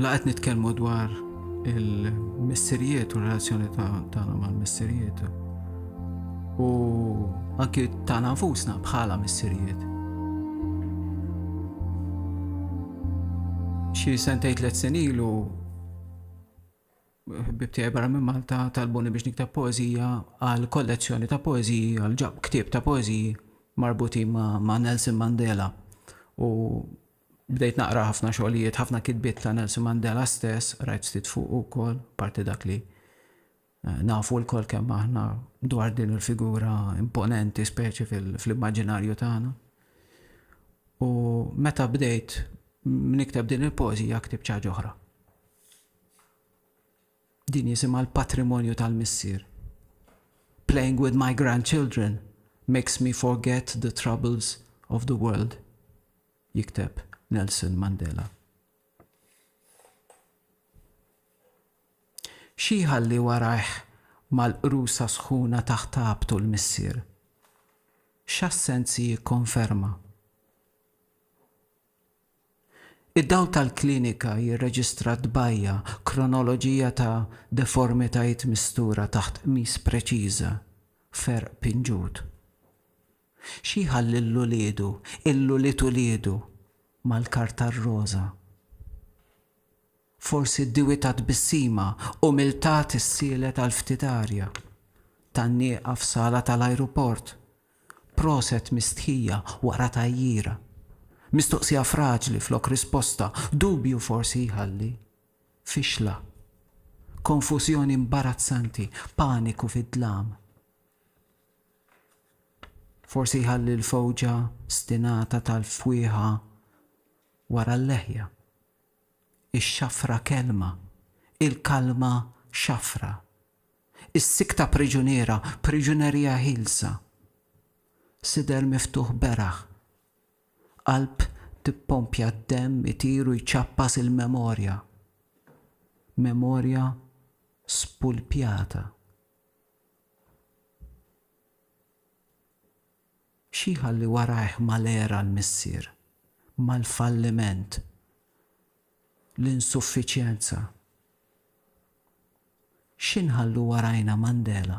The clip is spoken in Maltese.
La qed nitkellmu dwar il-missirijiet u relazzjoni tagħna mal-missirijiet. U anki tagħna nfusna bħala missirijiet. Xi sentej tliet senilu bibtija barra minn Malta talbuni biex niktab poezija għal kollezzjoni ta' poeziji għal ġab ktib ta' poeziji marbuti ma', ma Nelson Mandela u Bdejt naqra ħafna xogħlijiet, ħafna kitbiet ta' Nelson Mandela stess, qrajt ftit fuqu wkoll, apparti dak li nafu lkoll kemm aħna dwar din il-figura imponenti speċi fl-immaġinarju tagħna. U meta bdejt nikteb din il-poeżija ktib ċaġ oħra. Din jisimha l-patrimonju tal-missier. Playing with my grandchildren makes me forget the troubles of the world. jikteb Nelson Mandela. Xi jħalli warajh mal-qrusa sħuna taħt tagħbtu l-missier? X'assenzi jikkonferma? Id-dawl tal-klinika jirreġistra tbajja' kronoloġija ta' deformitajiet mistura taħt qmis preċiża, ferq pinġut. Xi jħalli 'l uliedu, 'l ulied uliedu, mal-karta r-roża? Forsi d-diwi ta' tbissima umiltà tissielet għal ftit arja. Tgħanniqha f'sala tal-ajruport. Proset mistħija wara tgħajjira. Mistoqsija fraġli flok risposta, dubju forsi jħalli. Fixla. Konfużjoni imbarazzanti, paniku fid-dlam. Forsi jħalli l-fewġa stinata tal-fwieħa wara l-leħja. Ix-xafra kelma, il-kalma xafra. Is-sikta priġuniera, priġunerija ħielsa. Sider miftuħ beraħ. Qalb tippompja d-demm itir u jċappas il-memorja. Memorja spulpjata. Xi jħalli warajh mal-għera l-missier, mal-falliment, l-insuffiċjenza? Xi nħallu warajna Mandela?